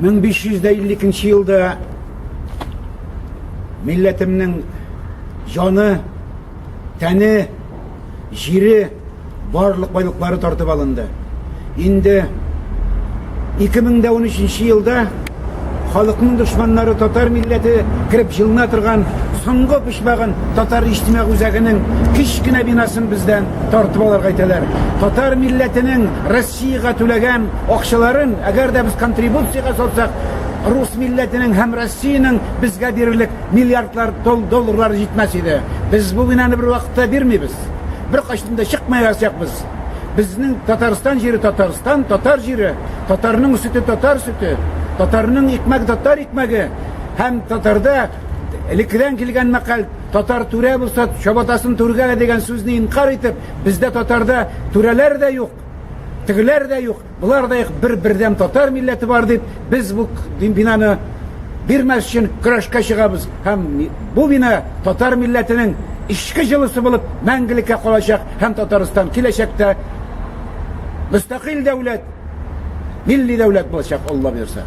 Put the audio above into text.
1552 елда милләтемнең җаны, тәне, җире, барлык байлыклары тартып алынды. Инде 2013 елда халыкның дошманнары татар милләте кереп җылына торган соңгы почмагын татар иҗтимагь үзәгенең кечкенә бинасын бездән тартып алырга итәләр. Татар милләтенең Россиягә түләгән акчаларын, әгәр дә без контрибуциягә салсак, рус милләтенең һәм Россиянең безгә бирерлек миллиардлар долларлары җитмәс иде. Без бу бинаны бервакытта бирмибез. Беркайчан да чыкмаячакбыз. Безнең Татарстан җире Татарстан, татар җире, татарның сөте татар сөте, татарның икмәге татар икмәге һәм татарда элеккедән килгән мәкаль Татар түрә булса, чабатасын түргә дигән сүзне инкарь итеп, бездә татарда түрәләр дә юк. Тегеләр дә юк, болар да юк, бер бердәм татар милләте бар дип, без бу бинаны бирмәс өчен көрәшкә чыгабыз һәм бу бина татар милләтенең эчке җылысы булып мәңгелеккә калачак һәм Татарстан киләчәктә мөстәкыйль дәүләт, милли дәүләт булачак, Алла бирсә.